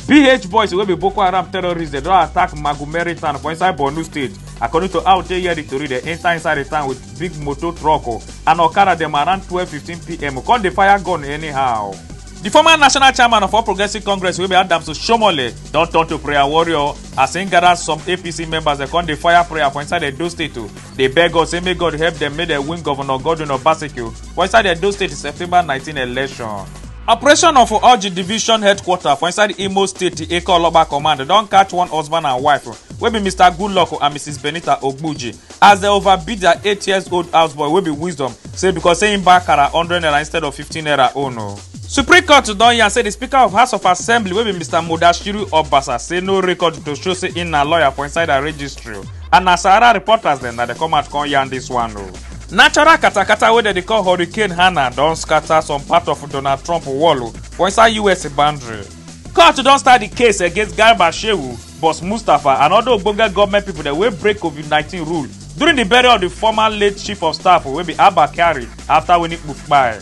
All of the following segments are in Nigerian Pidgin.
bh boys wey be boko haram terrorists dem don attack magumeri town for inside borno state according to how dey hear di tori dem enta inside di town with big motor truck o and okada dem around 12:15pm come dey fire gun anyhow. di former national chairman of all progressives congress wey be adams oshiomhole don turn to prayer warrior as im gather some apc members dem come dey fire prayer for inside edo state o dey beg us say make god help dem make dem win governor godwin obaseki for inside edo state september 19 election. operation of orji division headquarter for inside imo state di eke oloba command don catch one husband and wife wey be mr goodluck and mrs benita ogbuji as dem overbeat dia eight years old houseboy wey be wisdom say becos say im buy kara hundred naira instead of fifteen naira own o. supreme court don yarn say di speaker of house of assembly wey be mr mudashiru obasa say no record to show say im na lawyer for inside her registry. And na Sahara reporters dem na dey come out come yarn this one o. Natural katakata wey dem dey call Hurricane Hannah don scatter some part of Donald Trump wall o for inside US boundary. Court don start di case against Garba Shehu, Boss Mustapha and other ogbonge government pipo dem wey break COVID-19 rule during di burial of di former late chief of staff wey be Abba Kyari afta winning kpukpai.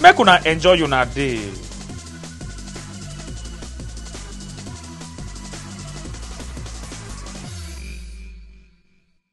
make una enjoy una day.